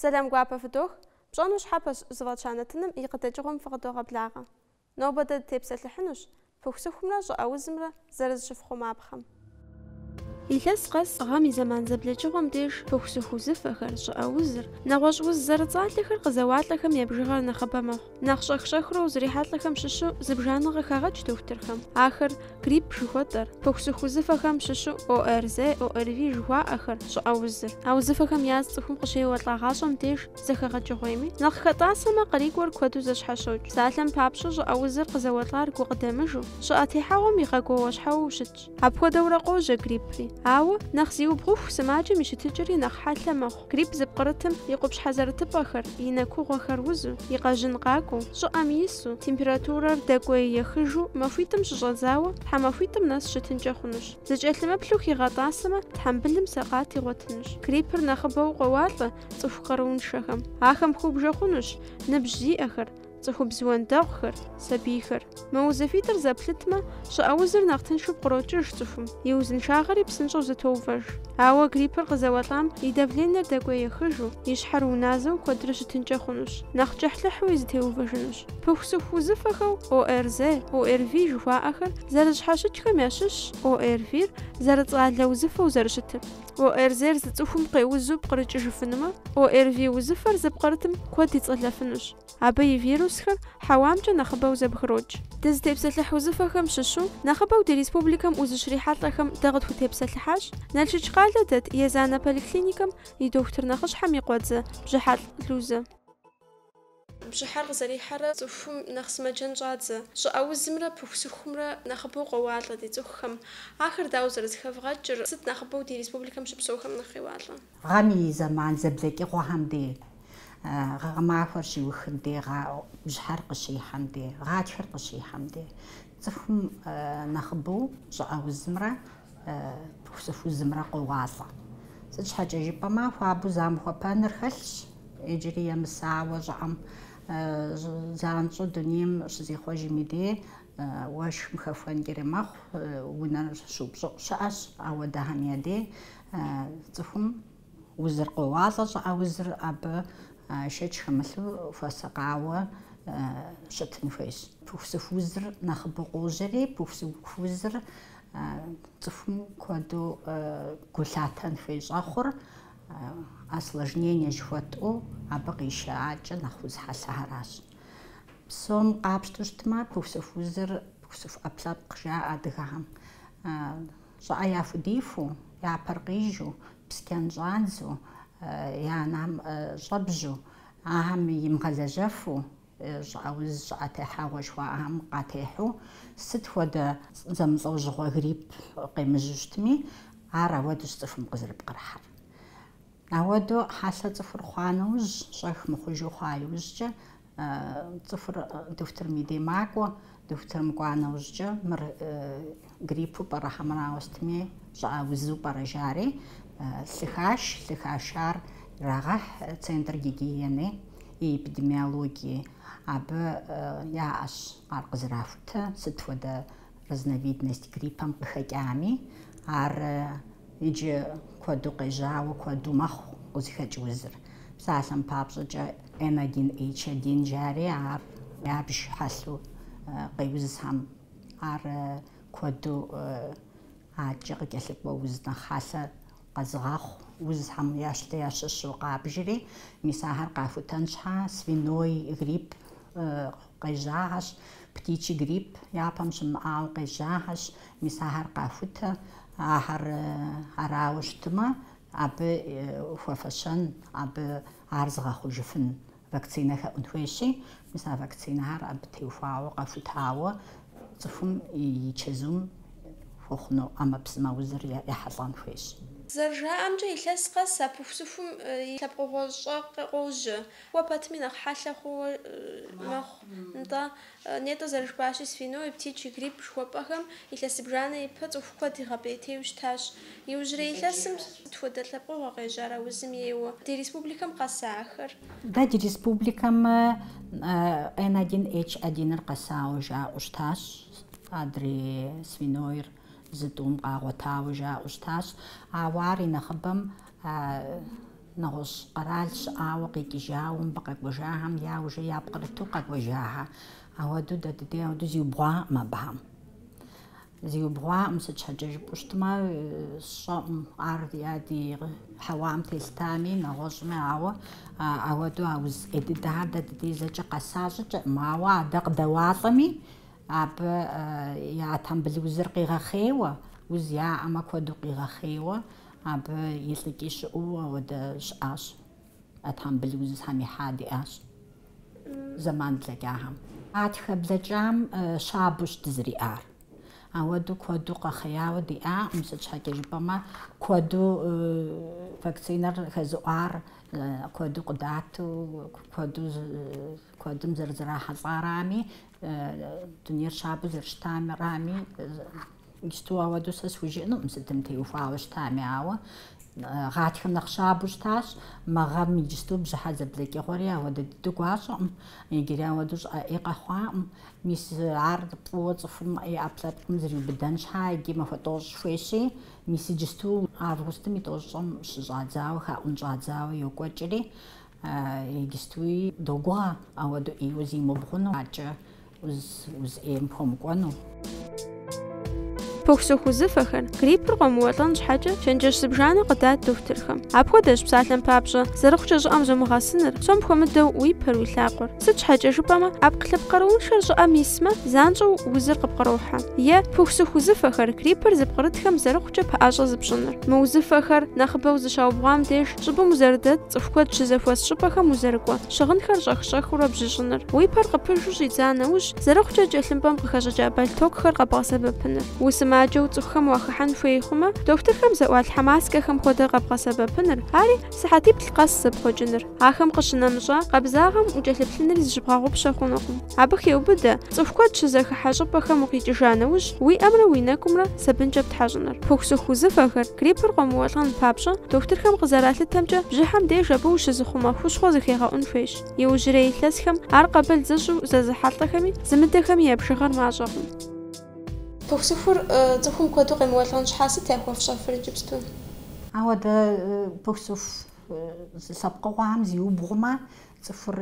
Сэлам гуапэ фыдох, пщӏэну щхьэпэщ зыфӏэтща нэтыным и къыдэкӏыгъуэм фыкъыдогъэблагъэ. Нобэ дэ дытепсэлъыхьынущ пыхусыхумрэ щӏыӏэузымрэ зэрызыщыфхъумапхъэм. Илъэс къэс гъэм и зэман зэблэкӏыгъуэм деж пыхусыху узыфэхэр, щӏыӏэузыр, нэгъуэщӏ уз зэрыцӏалэхэр къызэуалӏэхэм я бжыгъэр нэхъыбэ мэхъу. Нэхъ щӏэх-щӏэхыурэ узрихьэлӏэхэм щыщу зыбжанэ къыхагъэкӏ дохутырхэм. Ахэр грипп жыхуэтӏэр, пыхусыху узыфэхэм щыщу ОРЗ, ОРВИ жыхуаӏэхэр, щӏыӏэ узыр. А узыфэхэм яз цӏыхум къыщеуэлӏагъащӏэм деж зэхэгъэкӏыгъуейми, нэхъ хэтӏасэмэ, къарикӏуэр куэду зэщхьэщокӏ. Псалъэм папщӏэ, щӏыӏэ узыр къызэуэлӏар гукъыдэмыжу, щӏыӏэ техьэгъуэм игъэгуауэ щхьэуэу щытщ. Апхуэдэурэ къожьэ гриппри. Ауэ, нэхъ зиубгъуху сымаджэм и щытыкӏэри нэхъ хьэлъэ мэхъу. Грипп зыпкърытым и къупщхьэ зэрытыпӏэхэр, и нэкугъуэхэр узу, и къэжьын къакӏуэу, щӏыӏэм ису, температурэр дэкӏуей ехыжу, махуитӏым щыщӏэдзауэ, тхьэмахуитӏым нэс щытынкӏэ хъунущ. Зыкӏэлъымыплъу хигъэтӏасэмэ, тхьэмбылым сэкъат игъуэтынущ. Гриппыр нэхъыбэу къоуалӏэ цӏыху къарууншэхэм. Ахэм хыубжэ хъунущ ныбжь зиӏэхэр, Цӏыхубз уэндэгъухэр, сабийхэр. Мы узыфитӏыр зэплъытмэ, щӏыӏэ узыр нэхъ тыншу пкърокӏыж цӏыхум, и узыншагъэри псынщӏэу зэтоувэж. Ауэ гриппыр къызэуэлӏам и давленэр дэкӏуей ехыжу, и щхьэр уназэу куэдрэ щытынкӏэ хъунущ, нэхъ кӏыхьлӏыхьуи зэтеувэжынущ. Пыхусыху узыфэхэу ОРЗ, ОРВИ жыхуаӏэхэр зэрызэщхьэщыкӏхэм ящыщщ ОРВИ-р зэрыцӏалэ узыфэу зэрыщытыр. ОРЗ-р зы цӏыхум къеузу пкърыкӏыжыфынумэ, ОРВИ узыфэр зыпкърытым куэд ицӏэлэфынущ. Абы и вирусхэр хьэуамкӏэ нэхъыбэу зэбгрокӏ. Дызытепсэлъыхь узыфэхэм щыщу нэхъыбэу ди республикэм узыщрихьэлӏэхэм дэ къытхутепсэлъыхьащ Налшык къалэ дэт Езанэ поликлиникэм и дохутыр нэхъыщхьэм и къуэдзэ Бжьыхьэлӏ Лузэ. Бжьыхьэр къызэрихьэрэ цӏыхум нэхъ сымаджэн щӏадзэ. Щӏыӏэ узымрэ пыхусыхумрэ нэхъыбэу къоуалӏэ ди цӏыхухэм. Ахэр дауэ зэрызэхэвгъэкӏыр, сыт нэхъыбэу ди республикэм щыпсэухэм нэхъ къеуалӏэ? Гъэм и зэман зэблэкӏыгъуэхэм де гъэмахуэр щиухым де, бжьыхьэр къыщихьэм де, гъатхэр къыщихьэм де, цӏыхум нэхъыбэу щӏыӏэ узымрэ пыхусыху узымрэ къоуалӏэ. Сыт щхьэкӏэ жыпӏэмэ, хуабэу замыхуэпэныр хэлъщ, иджыри емысауэ щӏыӏэм занщӏэу дунейм щызихъуэжми де, уэшхым хэхуэнкӏэри мэхъу, унэр щыупщӏыӏу щыӏэщ ауэдэхэм я де. Цӏыхум узыр къоуалӏэ, щӏыӏэ узыр абы шэч хэмылъу хуэсакъауэ щытын хуейщ. Пыхусыху узыр нэхъыбэу къожьэри, пыхусыху узыр цӏыхум куэду гу лъатэн хуей щӏэхъур осложнение жыхуэтӏэу абы къищыӏакӏэ нэхъ уз хьэлъэхэращ. Псом къапщтэу щытмэ, пыхусыху узыр пыхусыху ӏэпкълъэпкъ жаӏэ адыгэхэм. Щӏыӏэ яхудифу, я пэр къижу, псчэн щӏадзу, я нэм щӏэбжьу, ахэм имыгъэлэжьэфу, щӏыӏэ уз, щӏыӏэ техьэгъуэ жыхуаӏэхэм къатехьу, сыт хуэдэ зэмылӏэужьыгъуэ грипп къемыжьу щытми, ар ауэдущ цӏыхум къызэрыпкърыхьэр. Ауэдэу хьэлъэ цӏыхур хъуа нэужь, щӏэх мыхъужу хъуа иужькӏэ, цӏыхур дохутырым и дей макӏуэ, дохутырым кӏуа нэужькӏэ, мыр гриппу пӏэрэ хьэмэрауэ сытми, щӏыӏэ узу пӏэрэ жари, лъы хаш, лъы хашар ирагъэхь центр гигиены и эпидемиологии. Абы яӏэщ ар къызэрахутэ, сыт хуэдэ разновидность гриппэм къыхэкӏами, ар иджы куэду къежьауэ куэду мэхъу къызыхэкӏ узыр. Псалъэм папщӏэкӏэ, N1H1 жари ар ябж хьэлъу къеузхэм, ар куэду адэкӏэ къыкӏэлъыкӏуэ уз нэхъ хьэлъэ. Къэзыгъэхъу узхэм ящ ящыщу къабжри, мис ахэр къахутэн щхьа, свиной грипп къежьахэщ, птичий грипп япэм щымыӏауэ къежьахэщ, мис ахэр къахутэ, ахэр арауэ щытымэ, абы хуэфэщэн, абы ар зыгъэхъужыфын Вакцинэ хэӏун хуейщи, мис а вакцинэхэр абы теухуауэ, къэхутауэ цӏыхум и чэзум хуэхъуну ӏэмэпсымэ узыр ехьэлӏэн хуейщ. Зэрыжаӏэмкӏэ, илъэс къэс а пыхусыхум и лъэпкъыгъуэ щӏэ къожьэ. Кӏуэ пэтми нэхъ хьэлъэ хъууэ мэхъу, нтӏэ. Нетӏэ зэрыжыпӏащи, свиной, птичий грипп жыхуэпӏэхэм илъэс зыбжанэ ипэ цӏыху куэд игъэпӏейтейуэ щытащ. Иужьрей илъэсым сыт хуэдэ лъэпкъыгъуэ къежьар а узым ейуэ? Ди республикэм къэса ахэр? Дэ ди республикэм Н один Н одиныр къэсауэ жаӏэу щытащ, адрей свинойр зы тӏум къагъуэтауэ жаӏэу щытащ, ауэ ар и нэхъыбэм Нэгъуэщӏ къэрал щыӏауэ къикӏыжауэ мыбы къэкӏуэжахэм яужэ япкърыту къэкӏуэжахэ. Ауэдэу дэ дыдей ауэдэу зиубгъуакъым абыхэм. Зиубгъуакъым, сыт щхьэкӏэ жыпӏэу щытмэ, сщӏэӏум ар ди хьэуам телъытами, нэгъуэщӏми, ауэ ауэдэу а уз ӏей дыдэхэр дэ дыдей зэкӏэ къэса щӏыкӏэкъым. Ауэ адэ къыдэуалӏэми, абы я тхьэмбыл узыр къигъэхъейуэ, уз яӏэмэ куэду къигъэхъейуэ, Абы илӏыкӏи щыӏэу ауэдэ щыӏащ. А тхьэмбыл узхэм ихьа диӏащ зэман блэкӏахэм. Гъатхэ блэкӏам щабэущ дызэриӏар. Ауэдэу куэду къэхъеяуэ диӏакъым, сыт щхьэкӏэ жыпӏэмэ, куэду вакцинэр хэзыӏуар куэду къыдату, куэду, куэдым зэрызэрахьэлӏарами, дунейр щабэу зэрыщытарами, Иджыпсту ауэдэу сэ схужыӏэнукъым сытым теухуауэ щытами, ауэ гъатхэм нэхъ щабэу щытащ. Мы гъэм иджыпсту бжьыхьэ зэблэкӏыгъуэри ауэдэ дыдэу гуащӏэкъым, иджыри ауэдэу щӏыӏэ ӏей къэхъуакъым. Мис ар фӏыуэ цӏыхум и ӏэпкълъэпкъым зриубыдэн щхьа иджы махуэ тӏощӏ хуейщи, мис иджыпсту августым и тӏощӏым щыщӏадзауэ, хаӏун щӏадзауэ йокӏуэкӏри, Иджыстуи догугъэ ауэдэу ӏейуэ зимыубгъуну, аркӏэ уз ӏейм хуэмыкӏуэну. Пыхусыху узыфэхэр, гриппыр къомыуэлӏэн щхьэкӏэ, чэнджэщ зыбжанэ къыдат дохутырхэм. Апхуэдэщ, псалъэм папщӏэ, зэрыхъукӏэ щӏыӏэм зумыгъэсыныр, псом хуэмыдэу уи пэр, уи лъакъуэр. Сыт щхьэкӏэ жыпӏэмэ, ӏэпкълъэпкъ къарууншэр щӏыӏэм исмэ, занщӏэу узыр къыпкърохьэ. Е, пыхусыху узыфэхэр, гриппыр зыпкърытхэм зэрыхъукӏэ пэӏэщӏэ зыпщӏыныр. Мы узыфэхэр, нэхъыбэу зыщаубгъуам деж, Щӏыбым узэрыдэт, цӏыху куэд щызэхуэс щӏыпӏэхэм узэрыкӏуэ, щыгъынхэр щӏэх-щӏэхыурэ бжьыщӏыныр, уи пэр къыпыжу щӏидза нэужь, зэрыхъукӏэ тхылъымпӏэм къыхэщӏыкӏа бэлътокухэр къэбгъэсэбэпыныр. Усымаджэу цӏыхухэм уахыхьэн хуей хъумэ, дохутырхэм зыӏуалъхьэ маскэхэм хуэдэ къэбгъэсэбэпыныр, ари, сыхьэтиплӏ къэс зэпхъуэкӏыныр. Ахэм къыщынэмыщӏа, къабзагъэм укӏэлъыплъынри зыщыбгъэгъупщэ хъунукъым. Абы хеубыдэ, цӏыху куэд щызэхыхьэ щӏыпӏэхэм укъикӏыжа нэужь, уи ӏэмрэ уи нэкӏумрэ, сабынкӏэ птхьэщӏыныр. Пыхусыху узыфэхэр, гриппыр къомыуэлӏэн папщӏэ, дохутырхэм къызэралъытэмкӏэ, бжьыхьэм деж абы ущызыхъумэ хущхъуэ зыхегъэӏун хуейщ. Иужьрей илъэсхэм ар къабыл зыщӏу зэзыхьэлӏэхэми, зымыдэхэми я бжыгъэр мащӏэкъым. Пыхусыхур цӏыхум куэду къемыуэлӏэн щхьа сыт яхуэфщӏэфыр иджыпсту? Ауэдэ пыхусыху уз лъэпкъыгъуэхэм зиубгъумэ, цӏыхур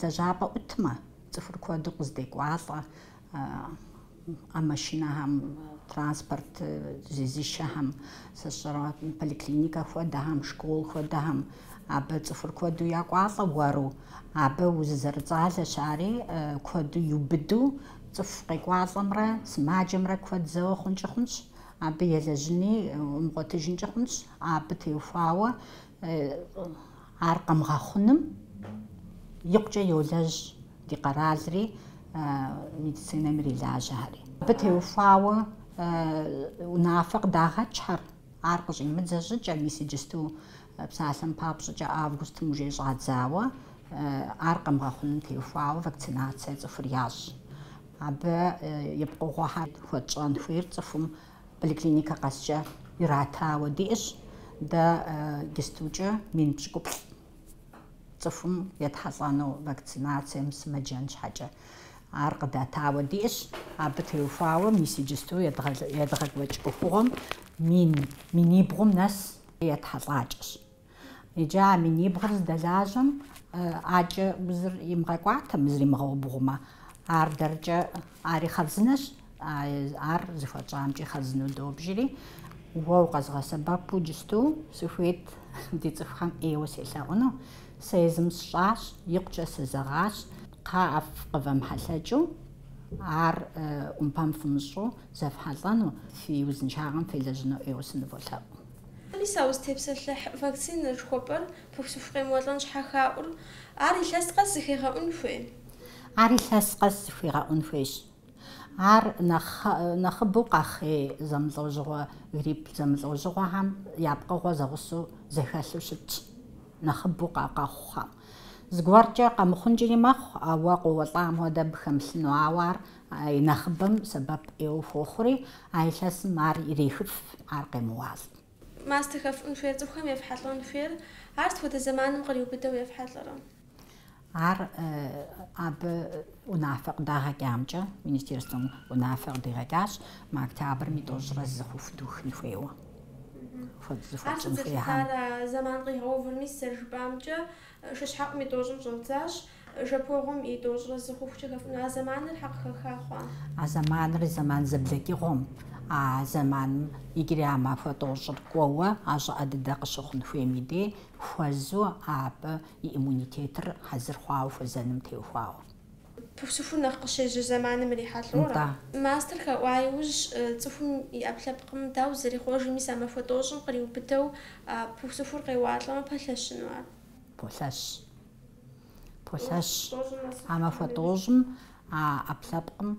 лэжьапӏэ ӏутмэ, цӏыхур куэду къыздекӏуалӏэ, А машинэхэм, транспорт зезышэхэм, сыщӏэрэ поликлиникэ хуэдэхэм, школ хуэдэхэм, абы цӏыхур куэду якӏуалӏэ уэру, абы уз зэрыцӏалэщ ари, куэду иубыду, цӏыху къекӏуалӏэмрэ сымаджэмрэ куэд зэуэ хъункӏи хъунщ, абы елэжьыни умыгъуэтыжынкӏи хъунщ, абы теухуауэ Ар къэмыгъэхъуным икъукӏэ йолэжь ди къэралри, медицинэм ирилажьэхэри. Абы теухуауэ унафэ къыдагъэкӏхэр, ар къыщӏимыдзэ щӏыкӏэ, мис иджысту псалъэм папщӏыкӏэ августым уже щӏадзауэ, ар къэмыгъэхъуным теухуауэ вакцинацие цӏыхур ящӏ. Абы и пкъыгъуэхэр хуэтщӏэн хуейр цӏыхум Поликлиникэ къэскӏэ иратауэ диӏэщ. Дэ иджыстукӏэ мин пщыкӏуплӏ цӏыхум етхьэлӏэну вакцинацие мысымэджэн щхьэкӏэ ар къыдатауэ диӏэщ. Абы теухуауэ мис иджысту едгъэкӏуэкӏ ӏуэхугъуэм мин минибгъум нэс етхьэлӏакӏэщ. Иджы а минибгъур здэлажьэм ӏакӏэ узыр имыгъэкӏуатэмэ, зримыгъэубгъумэ, ар дэркӏэ ари хъарзынэщ, ар зыхуэтщӏамкӏи хъарзыну добжьри, уэ укъэзгъэсэбэпу иджысту сыхуейт ди цӏыхухэм ӏейуэ селъэӏуну, сэ езым сщӏащ, икъукӏэ сызэгъащ, кхъыӏэф къывэмыхьэлъэкӏыу, ар ӏумпэм фымыщӏу зэфхьэлӏэну, фи узыншагъэм фелэжьыну ӏейуэ сыныволъэӏу. Мис а узытепсэлъыхь вакцинэ жыхуэпӏэр пыхусыху къемыуэлӏэн щхьэ хаӏур, ар илъэс къэс зыхегъэӏун хуей? Ар илъэс къэс зыхигъэӏун хуейщ. Ар нэхъыбэу къэхъей зэмылӏэужьыгъуэ, грипп зэмылӏэужьыгъуэхэм я пкъыгъуэ зэгъусэу зэхэлъу щытщ, нэхъыбэу къэхъухэм. Зыгуэркӏэ къэмыхъункӏэри мэхъу, ауэ къоуэлӏам хуэдэ абы хэмылъыну, ауэ ар А и нэхъыбэм сэбэп ӏейуэ хуохъури, а илъэсым ар ирехыф, ар къемыуалӏ. Мастэ хэфӏун хуейр цӏыхухэм ефхьэлӏэн хуейр, ар сыт хуэдэ зэманым къриубыдэу ефхьэлӏэрэ? Ар абы унафэ къыдагъэкӏамкӏэ, министерствэм унафэ къыдигъэкӏащ, мы октябрым и тӏощӏрэ зы хъуху духын хуейуэ. Хуэдэ зыхуэтщӏын хуейхэм. Ар сыт зэлъытар, а зэман къигъэувыр, мис зэрыжыпӏамкӏэ, шыщхьэӏум и тӏощӏым щӏэддзащ. Жэпуэгъуэм и тӏощӏрэ зы хъухукӏэ хэфӏуну а зэманыр щхьэ къыхэха хъуа? А зэманыр зэман зэблэкӏыгъуэм, а зэманым иджыри а махуэ тӏощӏыр кӏуэуэ а щӏыӏэ дыдэ къыщыхъун хуейм и дей хуэзу абы и иммунитетыр хьэзыр хъуауэ хуэзэным теухуауэ. Пыхусыхур нэхъ къыщежьэ зэманым ирихьэлӏэурэ? Нтӏэ. Мастэр хэӏуа иужь, цӏыхум и ӏэпкълъэпкъым дауэ зэрихъуэжыр, мис а махуэ тӏощӏым къриубыдэу пыхусыхур къеуалӏэмэ пэлъэщыну ар? Полъэщ. Полъэщ. А махуэ тӏощӏым а ӏэпкълъэпкъым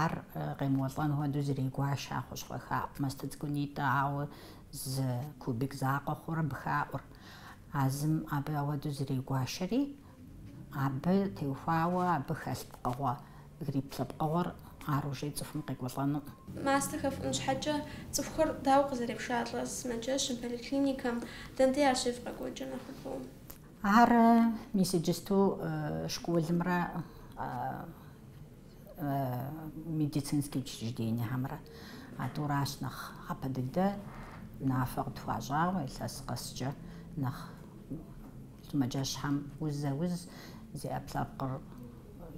ар къемыуэлӏэн хуэдэу зрегуашэ а хущхъуэ хаӏу мастэ цӏыкӏунитӏэ, ауэ зы кубик закъуэ хъурэ абы хаӏур. А зым абы ауэдэу зрегуашэри, абы теухуауэ абы хэлъ пкъыгъуэ, грипп лъэпкъыгъуэр ар ужей цӏыхум къекӏуэлӏэнукъым. Мастэ хэфӏун щхьэкӏэ цӏыхухэр дауэ къызэрепшалӏэр сымаджэщым, поликлиникэм, дэнэ дей ар щевгъэкӏуэкӏыр нэхъыбэу. Ар мис иджысту школымрэ медицинские учреждениехэмрэ а тӏуращ нэхъ япэ дыдэ унафэ къытхуащӏауэ илъэс къэскӏэ нэхъ сымаджэщхэм узэ уз зи ӏэпкълъэпкъыр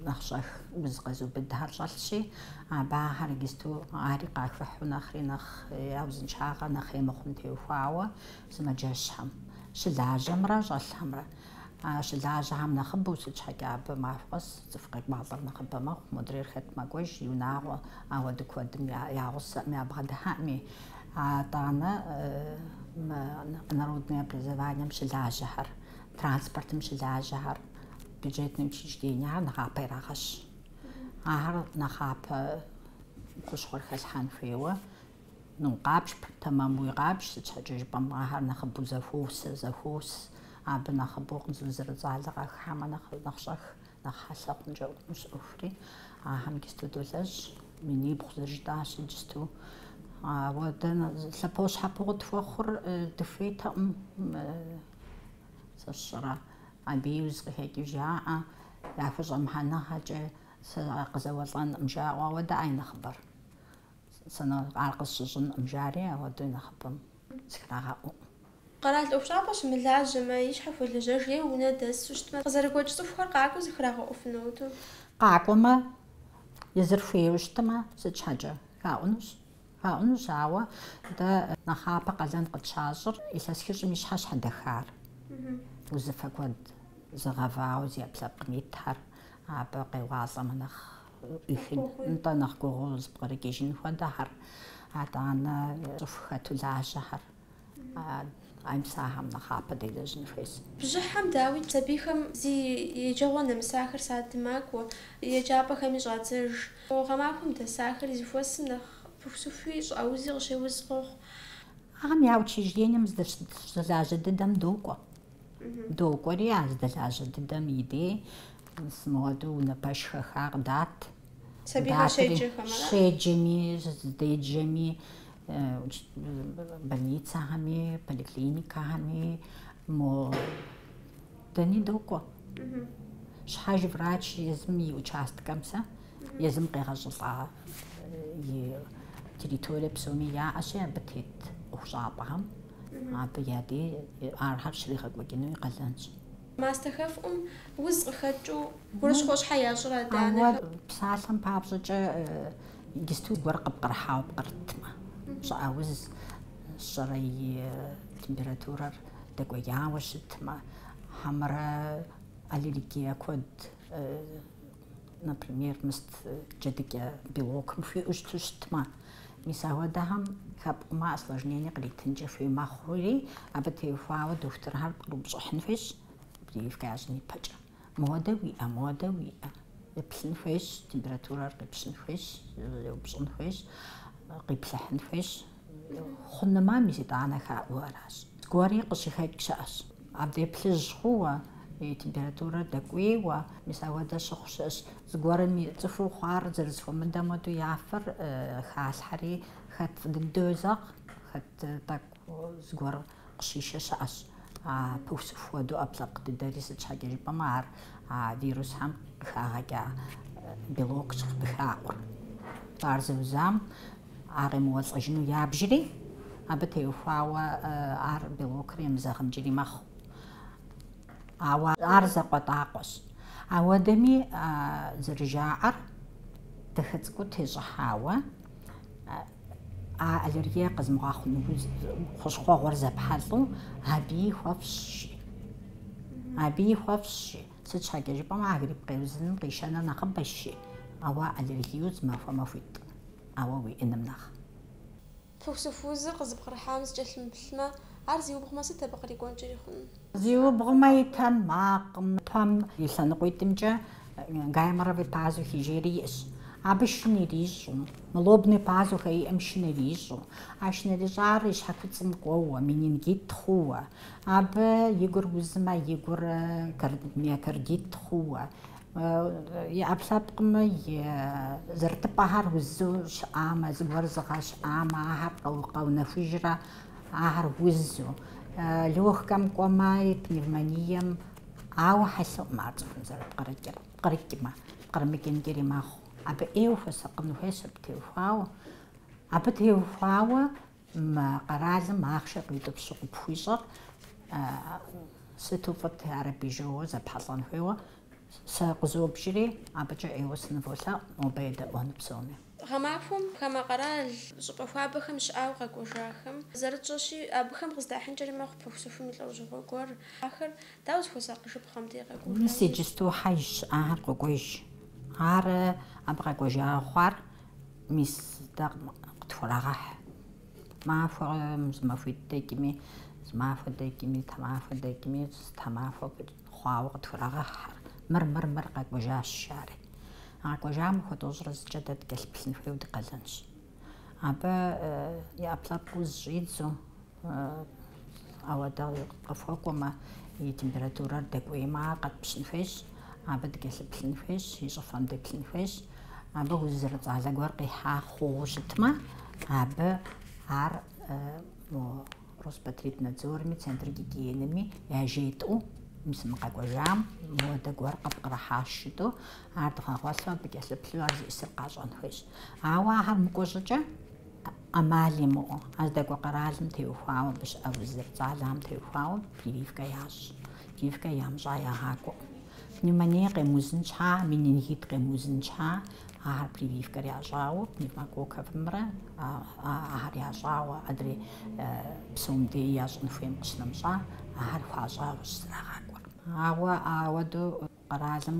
нэхъ щӏэх уз къэзубыдхэр щӏэлъщи, абы ахэр иджысту ари къахыхьу нэхъри нэхъ я узыншагъэ нэхъ ӏей мыхъум теухуауэ Сымаджэщхэм, щылажьэмрэ щӏэлъхэмрэ. А щылажьэхэм нэхъыбэу сыт щхьэкӏэ абы махуэ къэс цӏыху къекӏуалӏэр нэхъыбэ мэхъу, модрейр хэт мэкӏуэж, и унагъуэ, ауэдэ куэдым я гъусэӏым ябгъэдыхьэӏыми. Атӏанэ мы народнэ образованием щылажьэхэр, транспортым щылажьэхэр, бюджетнэ учреждениехэр нэхъапэ ирагъэщ. Ахэр нэхъапэ хущхъуэр хэлъхьэн хуейуэ. Къабж, тэмэмуи къабж, сыт щхьэкӏэ жыпӏэмэ, ахэр нэхъыбэу зэхуос, зэхуос, абы нэхъыбэу уз зэрыцӏалэ къахыхьэмэ нэхъ, нэхъ щӏэх, нэхъ хьэлъэ хъункӏэ хъунущ ӏуэхури, ахэм иджысту долэжь, минибгъу зэрыжытӏащи иджысту. Ауэ дэ лъэпощхьэпо къытхуэхъур дыхуейтэкъым, сэ сщӏэрэ, абыи узкъыхэкӏыу жаӏэ, яхущӏэмыхьэныгъэкӏэ сэ къызэуэлӏэнӏым жаӏэу, ауэ дэ ай нэхъыбэр. Сэ нэ ар къысщыщӏынӏым, жари ауэдэу нэхъыбэм зыхрагъэӏуӏым. Къэрал ӏуэхущӏапӏэ щымылажьэмэ, и щхьэ хуэлэжьэж е унэ дэсу щытмэ, къызэрыгуэкӏ цӏыхухэр къакӏуэу зыхрагъэӏуфынут. Къакӏуэмэ, езыр хуейуэ щытмэ, сыт щхьэкӏэ? Хаӏунущ. Хаӏунущ, ауэ дэ нэхъапэ къалэн къытщащӏыр илъэс хыщӏым и щхьэ щхьэдэхар. Узыфэ куэд зыгъэвауэ зи ӏэпкълъэпкъым итхэр абы къеуалӏэмэ нэхъ Илъын, нтӏэ, нэхъ гугъуу зыпкърыкӏыжын хуэдэхэр, атӏанэ цӏыху хэту лажьэхэр ай мис ахэм нэхъапэ делэжьын хуейщ. Бжьыхьэм дауи сабийхэм зи еджэгъуэ нэмысахэр садым макӏуэ, еджапӏэхэми щӏадзэж. Гъэмахуэм дэсахэри зыхуэсым нэхъ пыхусыхуи щӏыӏэ узи къыщеуз къохъу. Ахэм я учреждением здэщылажьэ дыдэм докӏуэ. Докӏуэри а зыдэлажьэ дыдэм и дей мыуэдэу унэ пэш хэха къыдат. Сабийхэр щеджэхэм, ара? Щеджэми, зыдеджэми, больницэхэми, поликлиникэхэми, мо дэни докӏуэ. Щхьэж врач езым и участкэм сэ Езым къегъэщӏылӏа и территорие псоми яӏэщи, абы тет ӏуэхущӏапӏэхэм абы я дей архэр щригъэкӏуэкӏыну и къалэнщ. Мастэ хэфӏум уз къыхэкӏыу гурыщхъуэ щхьэ ящӏрэ адэ-анэхэм? Ауэ псалъэм папщӏэкӏэ иджысту гуэр къыпкърыхьауэ пкърытмэ, щӏыӏэ уз щӏэрэ и температурэр дэкӏуеяуэ щытмэ, хьэмэрэ аллергие куэд например, мыст джэдыкӏэ белокым хуиӏэу щыту щытмэ. Мис ахуэдэхэм хэпӏумэ осложнение къритынкӏэ хуей мэхъури, абы теухуауэ дохутырхэр пкърыупщӏыхьын хуейщ прививкэ ящӏын ипэкӏэ. Модэ уиӏэ, модэ уиӏэ. Еплъын хуейщ, температурэр къипщын хуейщ, еупщӏын хуейщ, къиплъыхьын хуейщ. Хъунымэ мис итӏанэ хаӏуэу аращ. Зыгуэри къыщыхэкӏ щыӏэщ. Абдей плъыжь хъууэ, и температурэр дэкӏуейуэ, мис ауэдэ щыхъу щыӏэщ. Зыгуэрым и цӏыхуу хъуар зэрызэхуэмыдэм хуэдэу я фэр халъхьэри, хэт фӏы дыдэу езэгъ, хэт тӏэкӏу зыгуэр Къыщишэ щыӏэщ. А пыхусыху хуэдэу ӏэпкълъэпкъ дыдэри, сыт щхьэкӏэ жыпӏэмэ, ар а вирусхэм къыхагъэкӏа белокщ къыхаӏур. Ар зэузам ар къемыуэлӏэжыну ябжри, абы теухуауэ ар белокыр емызэгъынкӏри мэхъу. Ауэ ар закъуэтӏакъуэщ. Ауэдэми, зэрыжаӏэр, дахэ цӏыкӏуу тещӏыхьауэ, А аллергия къэзымыгъэхъуну хущхъуэ гуэр зэпхьэлӏу абий хуэфщӏщи. Абий хуэфщӏщи. Сыт щхьэкӏэ жыпӏэмэ, а грипп къеузыным къишэнур нэхъыбэщи, ауэ аллергию зымахуэ-махуитӏ, ауэ уиӏэным нэхъ. Пыхусыхузыр къызыпкърыхьам зыкӏэлъымыплъмэ, ар зиубгъумэ, сыт абы кърикӏуэнкӏэри хъунур? Зиубгъумэ и тэмакъым. Пэм и лъэныкъуитӏымкӏэ гайморовый пазухи жери иӏэщ. Абы шын ирищӏу. Мы лобный пазухэ иӏэм шын ирищӏу. А шын ирищӏар и щхьэкуцӏым кӏуэуэ, менингит хъууэ. Абы и гур узмэ, и гур миокардит хъууэ. И ӏэпкълъэпкъым зэрытыпӏэхэр узу щыӏамэ, зыгуэр зыгъэщӏамэ, ахэр къэунэхужрэ. Ахэр узу, легкэм кӏуэмаи, пневмонием, ауэ хьэлъэу мы ар цӏыхум зэрыпкърыкӏыр, пкърыкӏмэ, пкърымыкӏынкӏэри мэхъу. Абы ӏейуэ хуэсакъын хуейщ абы теухуауэ. Абы теухуауэ мы къэралым ахъшэ къиутӏыпщу къыпхуищӏэр сыту фӏыт, ар абы жьыуэ зэпхьэлӏэн хуейуэ. Сэ къызобжри, абыкӏэ ӏейуэ сыныволъэӏу, нобэ едэӏуэну псоми. Гъэмахуэм хамэ къэрал щӏыпӏэ хуабэхэм щыӏауэ къэкӏуэжахэм зэрытщӏэщи, абыхэм къыздахьынкӏэри мэхъу пыхусыхум и лӏэужьыгъуэ гуэр. Ахэр дауэ зыхуэсакъыжыпхъэм дей къэкӏуэжауэ? Мис иджысту хьэж щыӏахэр къокӏуэж. Ар абы къэкӏуэжауэ хъуар мис дэ къытхурагъэхь. Махуэ, зы махуитӏ дэкӏми, зымахуэ дэкӏми, тхьэмахуэ дэкӏми, тхьэмахуэ хъуауэ къытхурагъэхьхэр. Мыр-мыр-мыр къэкӏуэжащ жари. А къэкӏуэжам махуэ тӏощӏрэ зыкӏэ дэ дыкӏэлъыплъын хуейуэ ди къалэнщ. Абы и ӏэпкълъэпкъ уз щӏидзу, ауэдэ къыхуэкӏуэмэ, и температурэр дэкӏуеймэ, ар къэтпщын хуейщ, абы дыкӏэлъыплъын хуейщ, и щӏыфэм деплъын хуейщ. Абы уз зэрыцӏалэ гуэр къихьа хъугъыу щытмэ, абы ар Роспотребнадзорми, Центр гигиенэми яжетӏэу мис мы къэкӏуэжам модэ гуэр къыпкърыхьащ жытӏэу, ар дгъэгъуэлъу абы кӏэлъыплъу ар зиӏысыр къащӏэн хуейщ. Ауэ ахэр мыкӏуэ щӏыкӏэ ӏэмал имыӏэу, а здэкӏуэ къэралым теухуауэ абы щыӏэ уз зэрыцӏалэхэм теухуауэ прививкэ ящӏ. Прививкэ ямыщӏа ягъакӏуэкъым. Пневмоние къемыузын щхьа, менингит къемыузын щхьа, Ахэр прививкэр ящӏауэ пневмококковэмрэ ахэр ящӏауэ адрей псом дей ящӏын хуейм къыщынэмыщӏа, ахэр хуащӏауэщ зэрагъакӏуэр. Ауэ ауэдэу къэралым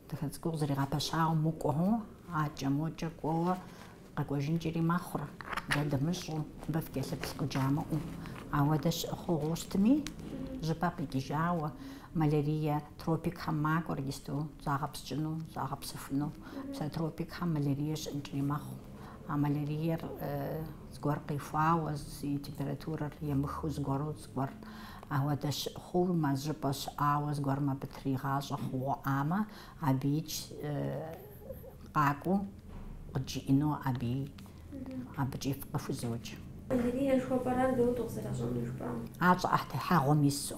дыхэцӏыкӏуу къызэригъэпэщауэ мыкӏуэу, акӏэ мокӏэ кӏуэуэ къэкӏуэжынкӏэри мэхъур, дэ дымыщӏэу, мыбы фыкӏэлъыплъ къыджамыӏэу. Ауэдэ щыӏэ хъугъуэу щытми, зыщӏыпӏэ къикӏыжауэ. Малярие тропикхэм макӏуэри иджыпсту загъэпскӏыну, загъэпсэхуну. Мис а тропикхэм малярие щыӏэнкӏэри мэхъу. А маляриер зыгуэр къихуауэ, и температурэр емыхыу зыгуэру зыгуэр ауэдэ щыӏэ хъумэ, зыщӏыпӏэ щыӏауэ зыгуэрым абы тригъащӏэ хъугъуэ иӏамэ, абыикӏ къакӏуэу къыджиӏэну абы абыкӏи фыкъыхузоджэ. Малярие жыхуэпӏэр ар дауэ дыкъызэращӏэнур жыпӏа? Ар щӏыӏэтехьэгъуэм ису.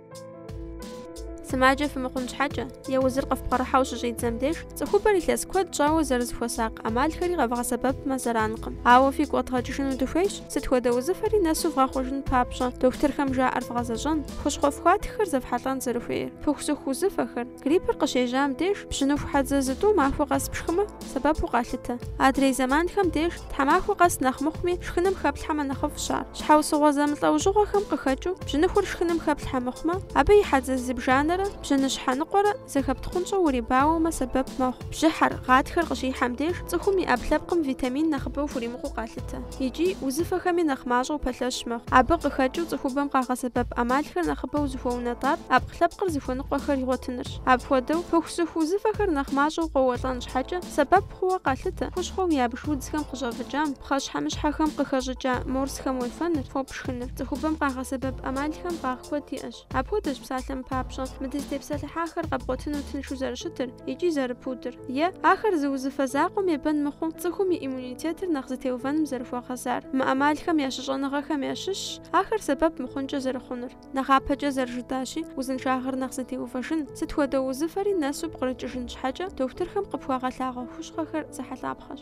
Сымаджэ фымыхъун щхьэкӏэ, е узыр къыфпкърыхьэу щыщӏидзэм деж, цӏыхубэр илъэс куэд щӏауэ зэрызыхуэсакъ ӏэмалхэри къэвгъэсэбэпмэ зэранкъым. Ауэ фигу къэдгъэкӏыжыну дыхуейщ, сыт хуэдэ узыфэри нэсу вгъэхъужын папщӏэ, дохутырхэм жаӏэр вгъэзэщӏэн, хущхъуэ фхуатххэр зэфхьэлӏэн зэрыхуейр, пыхусыху узыфэхэр, Гриппыр къыщежьам деж бжьыныху хьэдзэ зытӏу махуэ къэс пшхымэ, сэбэпу къалъытэ. Адрей зэманхэм деж тхьэмахуэ къэс нэхъ мыхъуми шхыным хэплъхьэмэ нэхъыфӏщ ар. Щхьэусыгъуэ зэмылӏэужьыгъуэхэм къыхэкӏыу бжьыныхур шхыным хэплъхьэ мыхъумэ, абы и хьэдзэ зыбжанэрэ бжьыныщхьэ ныкъуэрэ зэхэптхъунщӏэу урибауэмэ сэбэп мэхъу. Бжьыхьэр, гъатхэр къыщихьэм деж цӏыхум и ӏэпкълъэпкъым витамин нэхъыбэу хуримыкъуу къалъытэ. икӏи узыфэхэми нэхъ мащӏэу пэлъэщ мэхъу. Абы къыхэкӏыу цӏыхубэм къагъэсэбэп ӏэмалхэр нэхъыбэу зыхуэунэтӏар ӏэпкълъэпкъыр зыхуэныкъуэхэр игъуэтынырщ. Апхуэдэу, пыхусыху узыфэхэр нэхъ мащӏэу къоуэлӏэн щхьэкӏэ сэбэп хъууэ къалъытэ хущхъуэу ябж удзхэм къыщӏэвыкӏам, пхъэщхьэмыщхьэхэм къыхэщӏыкӏа морсхэм уефэныр, фо пшхыныр. Цӏыхубэм къагъэсэбэп ӏэмалхэм фӏагъ куэд иӏэщ. Апхуэдэщ псалъэм папщӏэ мы дызытепсэлъыхьахэр къэбгъуэтыну тыншу зэрыщытыр икӏи зэрыпудыр, е, ахэр зы узыфэ закъуэм ебэн мыхъуу, цӏыхум и иммунитетыр нэхъ зэтеувэным зэрыхуэгъэзар. Мы ӏэмалхэм я щыщӏэныгъэхэм ящыщщ ахэр сэбэп мыхъункӏэ зэрыхъунур. Нэхъапэкӏэ зэрыжытащи, узыншагъэр нэхъ зэтеувэжын, сыт хуэдэ узыфэри нэсу пкърыкӏыжын щхьэкӏэ дохутырхэм къыпхуагъэлъагъуэ хущхъуэхэр зэхьэлӏапхъэщ.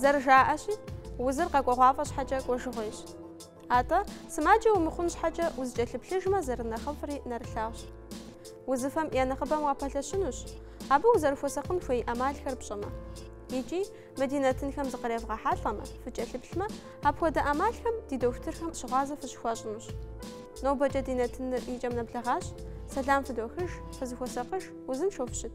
Зэрыжаӏэщи, узыр къэкӏуэгъуафӏэ щхьэкӏэ кӏуэжыгъуейщ. Атӏэ, сымаджэ умыхъун щхьэкӏэ узэкӏэлъыплъыжмэ зэрынэхъыфӏри нэрылъагъущ. Узыфэм я нэхъыбэм уапэлъэщынущ, абы узэрыхуэсакъын хуей ӏэмалхэр пщӏэмэ. Икӏи, Мы ди нэтынхэм зыкъревгъэхьэлӏэмэ, фыкӏэлъыплъмэ, апхуэдэ ӏэмалхэм ди дохутырхэм щыгъуазэ фыщыхуащӏынущ. Нобэкӏэ ди нэтыныр и кӏэм нэблэгъащ. Сэлам фыдохыж, фызыхуэсакъыж, узыншэу фыщыт!